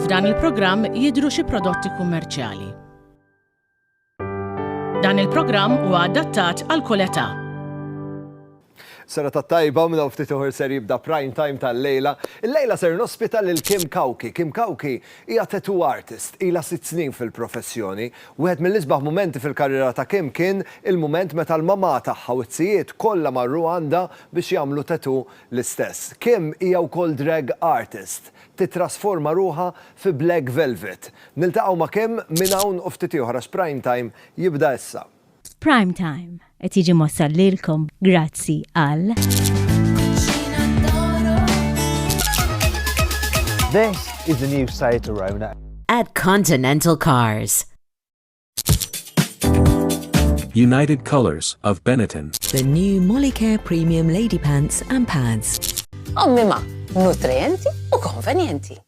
F'dan il-programm jidhru xi prodotti kummerċjali. Dan il-programm huwa adattat għal kull età. Sena ta' tajba u minna ftit uħor ser jibda prime time tal-lejla. Il-lejla ser nospita lil Kim Kawki. Kim Kawki hija tattoo artist, ila sitt snin fil-professjoni Wieħed mill-isbaħ mumenti fil-karriera ta' Kim kien il-mument meta l-mamà tagħha u t-tijiet kollha marru għandha biex jagħmlu tattoo l-istess. Kim hija wkoll drag artist. Tittrasforma ruħha fi Black Velvet. Niltaqgħu ma' Kim minn hawn u ftit ieħor għax Prime Time jibda issa. F'Prime Time, Qed jiġi mossal lilkom grazzi għal. This is the new Seat Arona. At Continental Cars. United Colors of Benetton. The new Molicare Premium Lady Pants and Pads. Ommi ma, nutrienti u konvenjenti.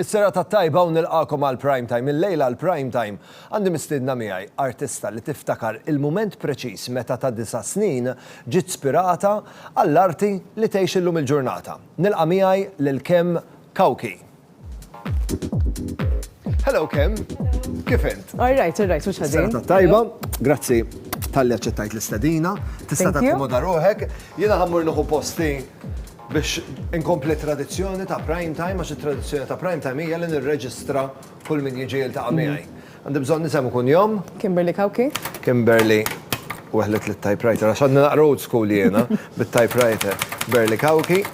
Is-serata t-tajba u nilqagħkom għal Prime Time. Illejla għal Prime Time għandi mistiedna miegħi artista li tiftakar il-mument preċiż meta ta' disa' snin ġiet spirata għall-arti li tgħix illum il-ġurnata. Nilqa' miegħi lil Kem Cauchi. Hello Kem. Kif int? All right, all right, mhux ħażin. Is-serata t-tajba. Grazzi talli aċċettajt l-istedina. Tista' takkomoda ruħek. Jiena ħammur nieħu posti Biex inkompli t-tradizzjoni ta' Prime Time, għax it-tradizzjoni ta' Prime Time hija li nirreġistra kull min jiġi jiltaqa' miegħi. Għandi bżonn isem u kunjom. Kimberly Cauchi. Kimberly, weħlet lit-typewriter, għax għadni naqra old school jiena, bit-typewriter. Berly Cauchi.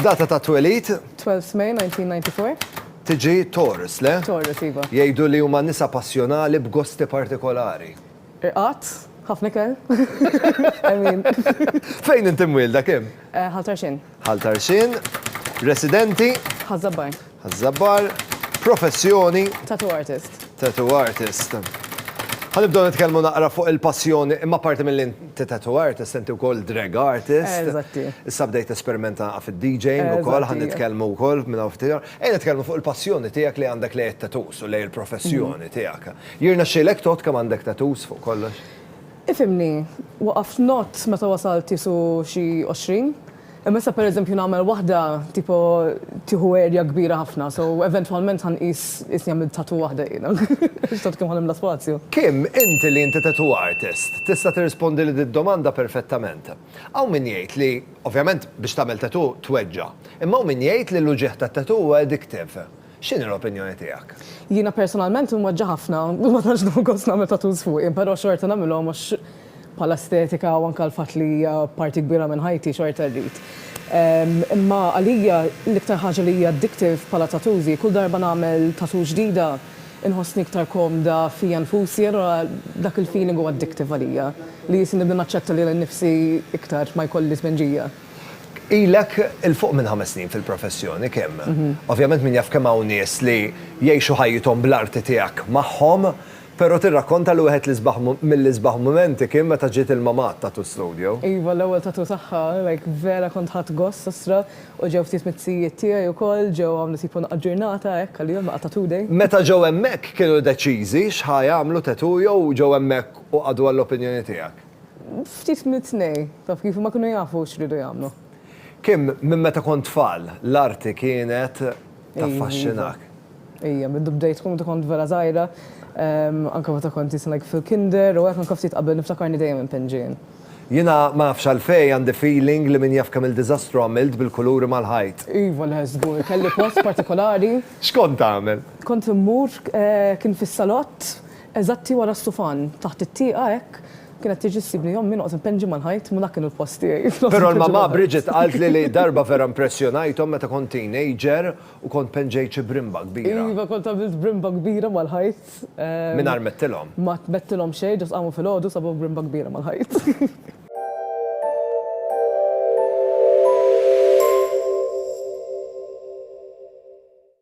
Data ta' twelid? 12 May 1994. Tiġi Taurus, le? Taurus, iva. Jgħidu li huma nisa passjonali b'gosti partikolari. Irqad, ħafna ikel. Emmin. Fejn inti mwielda, kemm? Ħal Tarxien. Ħal Tarxien. Residenti? Ħaż-Żabbar. Ħaż-Żabbar. Professjoni? Tattoo artist. Tattoo artist. Ħa nibdew nitkellmu naqra fuq il-passjoni, imma parti mill inti tattoo artist, inti wkoll drag artist. Eżatti. Issa bdejt esperimenta fid-DJing ukoll, ħa nitkellmu wkoll minn hawn ftit. Ejja nitkellmu fuq il-passjoni tiegħek li għandek lejn it-tattoos u lejn il-professjoni tiegħek. Jirnexxielek tgħodd kemm għandek tattoos fuq kollox? Ifhimni, waqaft ngħodd meta wasalt qisu xi għoxrin. Imma issa per eżempju nagħmel waħda tipo tieħu area kbira ħafna so eventwalment ħa nqis qisni għamilt tattoo waħda jiena. Għax tant kemm ħa nimla spazju. Kim, inti li inti tattoo artist, tista' tirrispondili did-domanda perfettament. Hawn min jgħid li, ovvjament biex tagħmel tattoo tweġġa'. Imma hawn min jgħid li l-uġigħ tat-tattoo huwa addictive. X'inhi l-opinjoni tiegħek? Jiena personalment inweġġa' ħafna, ma tantx nieħu gost nagħmel tattoos fuqi, però xorta nagħmilhom għax bħala estetika u anke l-fatt li hija parti kbira minn ħajti xorta rrid. Imma għalija l-iktar ħaġa li hi addictive bħala tattoos hi kull darba nagħmel tattoo ġdida inħossni iktar komda fija nfusi allura dak il-feeling hu addictive għalija li jisni nibda naċċetta lili nnifsi iktar ma jkolli tpinġija. Ilek 'il fuq minn ħames snin fil-professjoni, Kim. Ovvjament min jaf kemm hawn nies li jgħixu ħajjithom bl-arti tiegħek magħhom, però tirrakkonta li wieħed l-isbaħ mill-isbaħ mumenti kien meta ġiet il-Mama għat-tattoo studio. Iva, l-ewwel tattoo tagħha, like vera kont ħadt gost osttra, u ġew ftit mit-tijiet tiegħi wkoll, ġew għamlu tipo naqgħa ġurnata hekk għalihom, naqgħa tattoo day. Meta ġew hemmhekk kienu deċiżi x'ħa jagħmlu tattoo jew ġew hemmhekk u qagħdu għall-opinjoni tiegħek? Ftit mit-tnejn, taf kif, huma kienu jafu x'ridu jagħmlu. Kim, minn meta kont tfal, l-arti kienet taffaxxinak? Ejja, mindu bdejt tkun meta kont vera żgħira, anke meta kont isni like fil-kinder u hekk anke ftit qabel niftakarni dejjem inpinġi jien. Jiena ma nafx għalfejn għandi feeling li min jaf kemm-il diżastru għamilt bil-kuluri mal-ħajt. Iva le, żgur, kelli post partikolari. X'kont tagħmel? Kont immur, kien fis-salott, Eżatti wara s-sufan, taħt it-tieqa hekk, kienet tiġi ssibni ommi noqgħod impenġi mal-ħajt ma dak kienu l-post tiegħi fl-osma. Però l-mamà Bridget qalt li li darba vera impressjonajthom meta kont teenager u kont penġejt xi brimba kbira. Iva kont għamilt brimba kbira mal-ħajt. Mingħajr mettilhom. Ma tmettilhom xejn, ġast qamu filgħodu sabu brimba kbira mal-ħajt.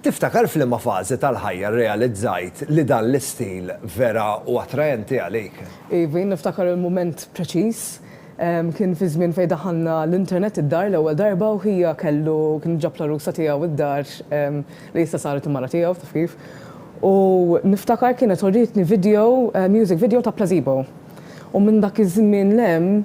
Tiftakar f'liema fażi tal-ħajja rrealizzajt li dan l-istil vera hu attraenti għalik? Ivi, niftakar il-mument preċiż. Kien fi żmien fejn daħalna l-internet id-dar l-ewwel darba u ħija kellu, kien ġab l-għarusa tiegħu id-dar li issa saret il-mara tiegħu, taf kif. U niftakar kienet urietni video, music video ta' Plazebo. U minn dak iż-żmien 'l hemm,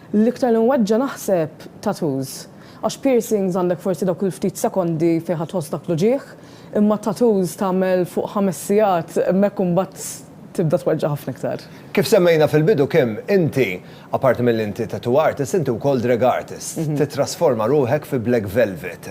L-iktar li nweġġa' naħseb tattoos. Għax piercings għandek forsi dawk il-ftit sekondi fejn ħa tħoss dak l-uġigħ, imma tattoos tagħmel fuq ħames sigħat hemmhekk u mbagħad tibda tweġġa' ħafna iktar. Kif semmejna fil-bidu Kim, inti, apparti milli inti tattoo artist, inti wkoll drag artist. Tittrasforma ruħek fi Black Velvet.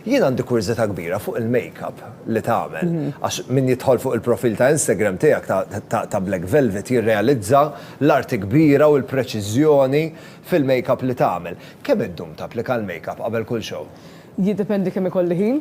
Jien għandi kurżità kbira fuq il-makeup li tagħmel għax min jidħol fuq il-profil ta' Instagram tiegħek ta' Black Velvet jirrealizza l-arti kbira u l-preċiżjoni fil-makeup li tagħmel. Kemm iddum tapplika l-makeup qabel kull show? Jiddependi kemm ikolli ħin.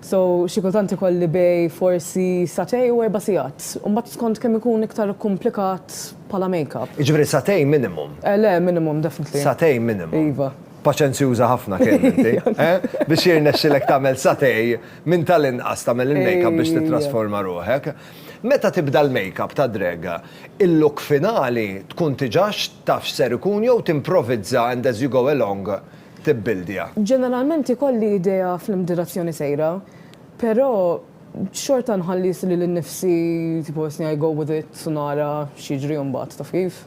So, xi kultant ikolli bejn forsi sagħtej u erba' sigħat. U mbagħad skont kemm ikun iktar ikkumplikat bħala makeup. Jiġifieri sagħtejn minimum? Le, minimum definitely. Sagħtejn minimum. Iva. Paċenzjuża ħafna kemm inti, eh? Biex jirnexxilek tagħmel satay, minn tal-inqas tagħmel il-makeup biex tittrasforma ruħek. Meta tibda l-makeup ta' drag, il-look finali tkun tiġax taf x'ser ikun jew timprovizza and as you go along tibbildja? Ġeneralment ikolli idea fl-direzzjoni sejra, però Xorta nħallis lili nnifsi tipo isni I go with it u nara x'jiġri imbagħad, taf kif?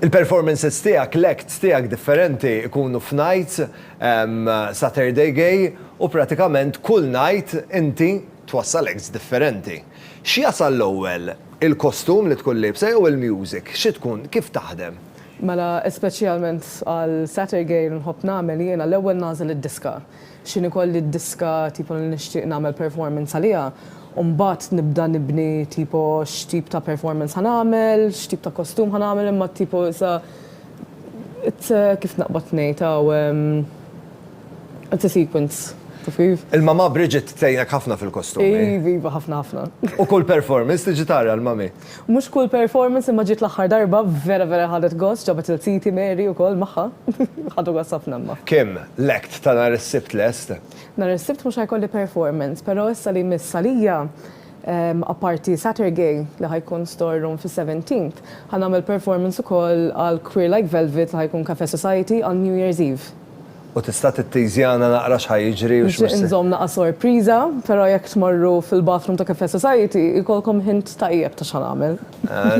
Il-performances tiegħek, l-acts tiegħek differenti jkunu f'nights, Saturday Gay, u pratikament kull night inti twassal acts differenti. X'jasal l-ewwel, il-kostum li tkun liebsa jew il-music? Xi tkun, kif taħdem? Mela speċjalment għal Saturday Gay li nħobb nagħmel jiena l-ewwel nagħżel id-diska. X'inhi kolli d-diska tipo li nixtieq nagħmel performance għaliha u mbagħad nibda nibni tipo x'tip ta' performance ħa nagħmel, x'tip ta' kostum ħa nagħmel imma tipo issa it's a kif naqbad ngħid hawn it's a sequence, taf kif? Il-mamà Bridget tgħinek ħafna fil-kostumi. Iva, iva ħafna ħafna. U kull performance tiġi tara l-mummy? Mhux kull performance imma ġiet l-aħħar darba vera vera ħadet gost, ġabet lil ziti Mary ukoll magħha. Ħadu gost ħafna imma. Kim, l-act ta' nhar is-Sibt lest? Nhar is-Sibt mhux ħajkolli performance, però issa li jmiss għalija, apparti Saturgay li ħa jkun Store Room fis-Seventeenth, ħa nagħmel performance ukoll għal Queer Like Velvet li ħa jkun Cafè Society għal New Year's Eve. U tista' titteasjana naqra x'ħa jiġri u x'mhux se. Nixtieq inżomm naqra sorpriża, però jekk tmorru fil-bathroom ta' Cafe Society jkollkom hint tajjeb ta' x'ħa nagħmel.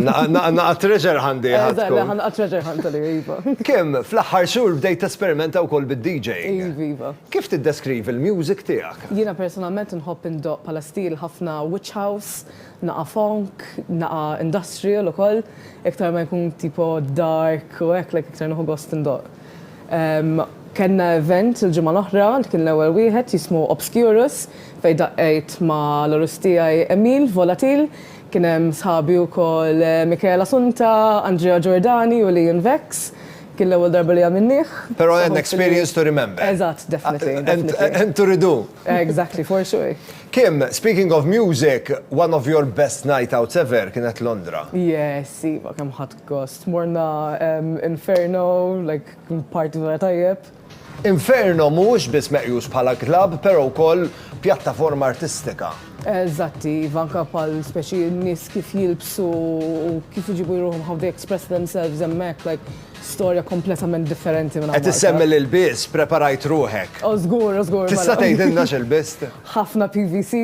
Naqra treasure hunt hi ħa tkun. Eżatt, naqra treasure hunt hi, iva. Kim, fl-aħħar xhur bdejt tesperimenta wkoll bid-DJing. Iv, iva. Kif tiddeskrivi l-music tiegħek? Jiena personalment inħobb indoqq bħala stil ħafna witch house, naqra funk, naqra industrial ukoll. Iktar ma jkun tipo dark u hekk, like iktar nieħu gost indoqq. Kellna event il-ġimgħa l-oħra li kien l-ewwel wieħed jismu Obscurus fejn daqqejt ma' l-għarus tiegħi Emil Volatil. Kien hemm sħabi wkoll Michael Assunta, Andrea Giordani u Leon Vex. Kien l-ewwel darba li għamilnieh. Però an experience to remember. Eżatt, definitely, definitely. And to redo. Exactly, for sure. Kim, speaking of music, one of your best night outs ever kienet Londra. Yes, iva, kemm ħadt Gost. Morna Inferno, like party vera tajjeb. Inferno mhuwiex biss meqjus bħala club pero wkoll pjattaforma artistika. Eżatti iva, anka bħal speċi nies kif jilbsu u kif iġibu ruħhom how they express themselves hemmhekk like storja kompletament differenti minn hawn Malta. Qed issemmi l-ilbies, preparajt ruħek. O żgur, o żgur. Tista' tgħidilna x'ilbizt? Ħafna PVC,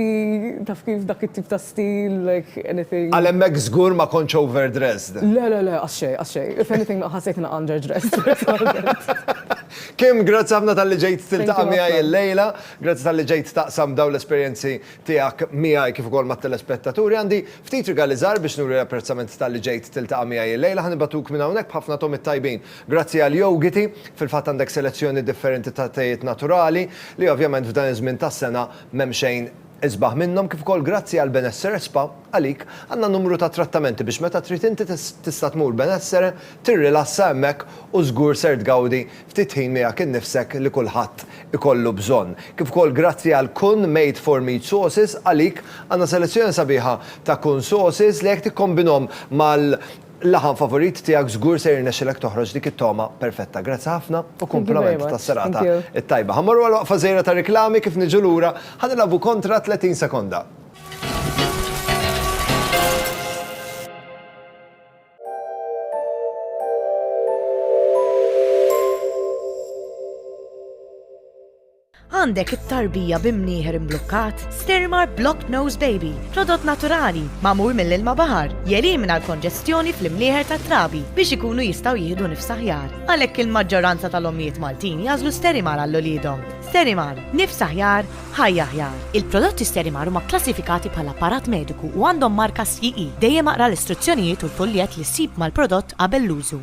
taf kif, dak it-tip ta' stil, like anything. Għal hemmhekk żgur ma kontx overdressed. Le, le, le, qatt xejn, qatt xejn. If anything naqas ħassejtni naqra underdressed personalment. Kim, grazzi ħafna talli ġejt tiltaqa' miegħi llejla. Grazzi talli ġejt taqsam dawn l-esperjenzi tiegħek miegħi kif ukoll mat-telespettaturi. Għandi ftit rigali żgħar biex nuri l-apprezzament talli ġejt tiltaqa' miegħi llejla. Ħa nibgħatuk minn hawnhekk b'ħafna togħmiet tajbin. Grazzi għal Yogiti, fil-fatt għandek selezzjoni differenti ta' tejiet naturali, li ovvjament f'dan iż-żmien tas-sena m'hemm xejn isbaħ minnhom, kif ukoll grazzi għal Benessere Spa, għalik għandna numru ta' trattamenti biex meta trid inti tista' tmur Benessere, tirrilassa hemmhekk u żgur ser tgawdi ftit ħin miegħek innifsek li kulħadd ikollu bżonn. Kif ukoll grazzi għal Kun Made for Meat Sauces, għalik għandna selezzjoni sabiħa ta' Kun Sauces li jekk tikkombinhom mal, Laħam favorit tiegħek żgur se jirnexxilek toħroġ dik it-togħma perfetta. Grazzi ħafna u kumplament tas-serata t-tajba. Ħa mmorru għal waqfa żgħira ta' riklami kif niġu lura ħa nilagħbu kontra 30 sekonda. Għandek it-tarbija bi mnieħer imblukkat? Sterimer Block Nose Baby, prodott naturali, magħmul mill-ilma baħar, jelimina l-konġestjoni fl-imnieħer tat-trabi biex ikunu jistgħu jieħdu nifs aħjar. Għalhekk il-maġġoranza tal-ommijiet Maltin jagħżlu Sterimer għal uliedhom. Sterimer, nifs aħjar, ħajja aħjar. Il-prodotti Sterimer huma kklassifikati bħala apparat mediku u għandhom marka CE. Dejjem aqra l-istruzzjonijiet u l-fuljett li ssib mal-prodott qabel l-użu.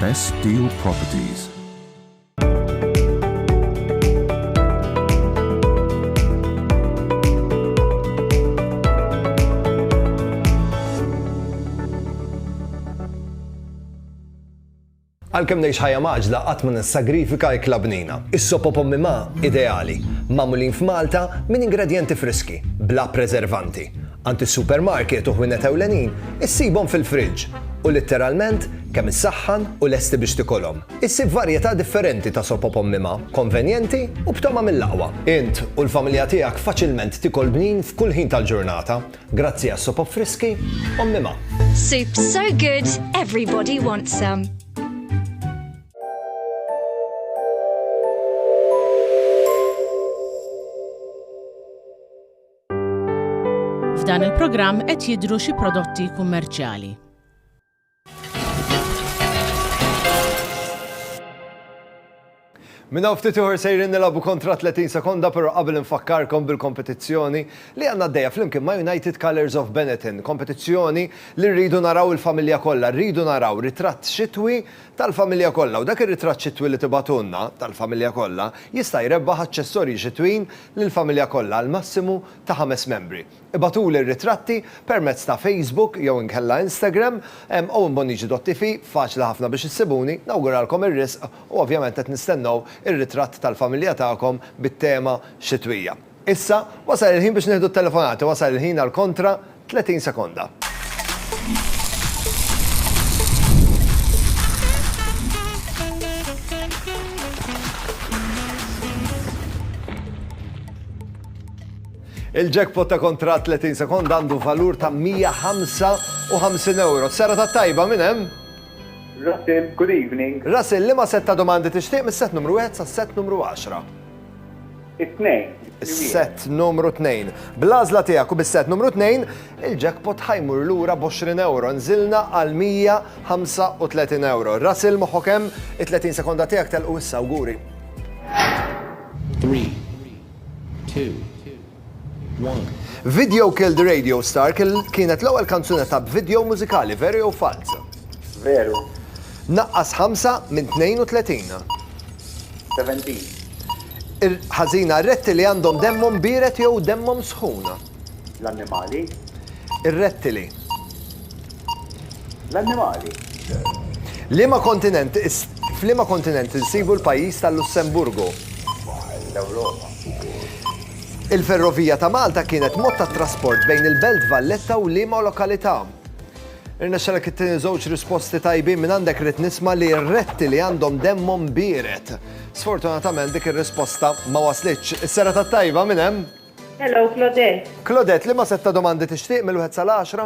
Best Deal Properties. Għalkemm ngħix ħajja maġla qatt ma nissagrifika ikla bnina. Is-sopo pommi ma ideali, magħmulin f'Malta minn ingredjenti friski, bla preservanti. Għand is-supermarket u ħwienet ewlenin issibhom fil-friġġ u litteralment kemm issaħħan u lesti biex tikolhom. Issib varjetà differenti ta' sop op ommima, konvenjenti u b'togħma mill-aqwa. Int u l-familja tiegħek faċilment tikol bnin f'kull ħin tal-ġurnata grazzi għas-sop op friski ommima. Soup so good, everybody wants some. F'dan il-programm qed jidhru xi prodotti kummerċjali. Minna ftit uħor sejrin nilabu kontra 30 sekonda pero qabel infakkarkom bil-kompetizzjoni li għanna d-dejja flimkien ma' United Colors of Benetton. Kompetizzjoni li rridu naraw il-familja kollha, rridu naraw ritratt xitwi tal-familja kollha u dak ir-ritratt xitwi li tibagħtulna, tal-familja kollha, jista' jrebbaħ aċċessorji xitwin lill-familja kollha għal massimu ta' ħames membri. Ibagħtuli r-ritratti permezz ta' Facebook jew inkella Instagram, Owen Bonnici Dott TV, faċli ħafna biex issibuni, nawguralkom ir-riżq u ovvjament qed nistennew ir-ritratt tal-familja tagħkom bit-tema xitwija. Issa, wasal il-ħin biex nieħdu t-telefonati, wasal il-ħin għal kontra 30 sekonda. Il-jackpot ta' kontra 30 sekonda għandu valur ta' 155 euro. Sera ta' tajba minn hemm? Russell, good evening. Russell, li ma setta domandi tixtieq mis-set numru 1 sa' set numru 10? It-tnejn. Is-set numru tnejn. Bl-għażla tiegħek u bis-set numru tnejn, il-jackpot ħajmur lura b'20 ewro. Nżilna għal 135 ewro. Russell moħħok hemm, it-30 sekonda tiegħek telqu issa awguri. 3 2 1 Video Killed Radio Star kienet l-ewwel kanzunetta b'video mużikali, veri jew falz? Veru. Naqqas ħamsa minn tnejn u tletin. Seventeen. Ħażina r-rettili għandhom demmhom biered jew demmhom sħun. L-annimali. Ir-rettili. L-annimali. Liema kontinent f'liema kontinent insibu l-pajjiż tal-Lussemburgu? L-Ewropa. Il-ferrovija ta' Malta kienet mod tat-trasport bejn il-Belt Valletta u liema lokalità? Irnexxelek it-tieni żewġ risposti tajbin minn għandek rrid nisma' li r-retti li għandhom demmhom biered. Sfortunatament dik ir-risposta ma waslitx. Is-sera tat-tajba minn hemm? Hello, Claudette. Claudette, liema sett ta' domandi tixtieq mill-wieħed sal-għaxra?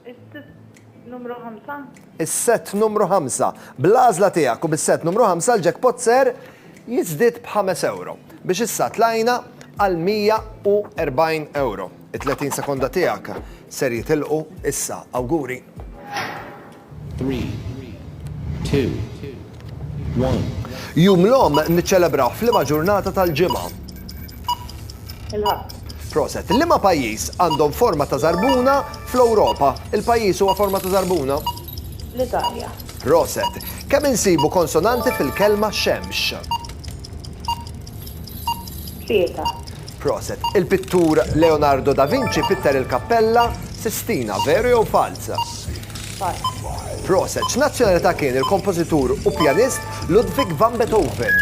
Is-sitt numru ħamsa. Is-sett numru ħamsa. Bl-għażla tiegħek u bis-sett numru ħamsa l-jackpot ser jiżdied b'ħames ewro. Biex issa tlajna għal 140 ewro. It-30 sekonda tiegħek ser jitilqu issa. Awguri! Three, two, one. Jum l-Omm niċċelebrawh f'liema ġurnata tal-ġimgħa? Il-Ħadd. Proset. Liema pajjiż għandhom forma ta' żarbuna fl-Ewropa? Il-pajjiż huwa forma ta' żarbuna? L-Italja. Proset. Kemm insibu konsonanti fil-kelma xemx? Pieta. Proset. Il-pittur Leonardo da Vinci pitter il-Kappella Sistina, veru jew falz? Falz. Proset. X'nazzjonalità kien il-kompożitur u pjanist Ludwig van Beethoven?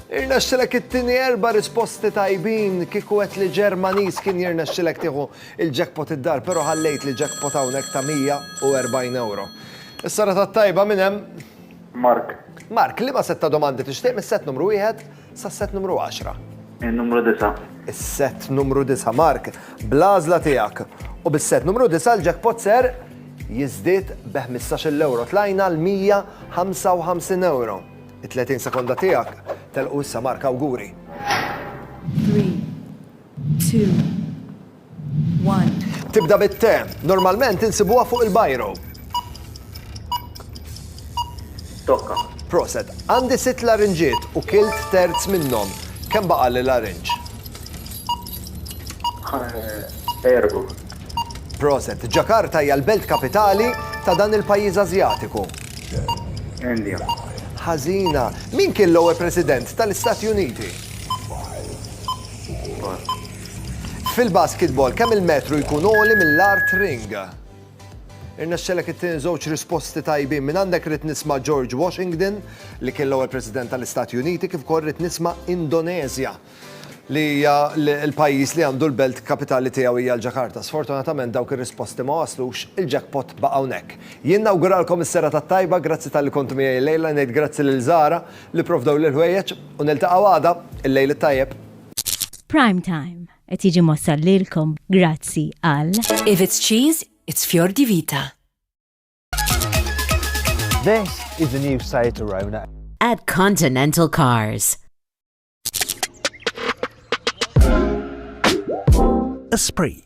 Irnexxilek it-tieni erba' risposti tajbin. Kieku għedt li Ġermaniż kien jirnexxilek tieħu il-jackpot id-dar pero ħallejtli jackpot hawnhekk ta' 140 ewro. Is-sara tat-tajba minn hemm. Mark. Mark, liema sett ta' domandi tixtieq mis-sett numru wieħed sas-sett numru għaxra? In-numru disa'. Is-sett numru disa', Mark, bl-għażla tiegħek. U bis-sett numru disa' l-jackpot ser jiżdied b' ħmistax-il ewro tlajna għal mija ħamsa u ħamsin ewro. It-tletin sekonda tiegħek telqu issa Mark, awguri. Three, two, 1. Tibda bit-te. Normalment insibuha fuq il-bajro. Tokka. Proset. Għandi sitt larinġiet u kilt terz minnhom. Kemm baqa' li larinġ? Erbu. Proset. Ġakarta hija l-belt kapitali ta' dan il-pajjiż Ażjatiku. India. Ħażina. Min kien l-ewwel President tal-Istati Uniti? Fil-basketball, kemm il-metru jkun għoli mill-art ring? Irnexxelek it-tieni żewġ risposti tajbin. Minn għandek rrid nisma' George Washington, li kien l-ewwel President tal-Istati Uniti, kif ukoll rrid nisma' Indoneżja, li hija l-pajjiż li għandu l-belt kapitali tiegħu hija l-Ġakarta. Sfortunatament dawk ir-risposti ma waslux, il-jackpot baqa' hawnhekk. Jien nawguralkom is-serata t-tajba, grazzi talli kontu miegħi llejla, ngħid grazzi lil Zara li pprovdew l-ħwejjeġ u niltaqgħu għada, il-lejl it-tajjeb. Prime Time qed jiġi mwassal lilkom grazzi għal If it's cheese, it's Fior di Vita. This is the new Seat Arona. At Continental Cars. Esprit.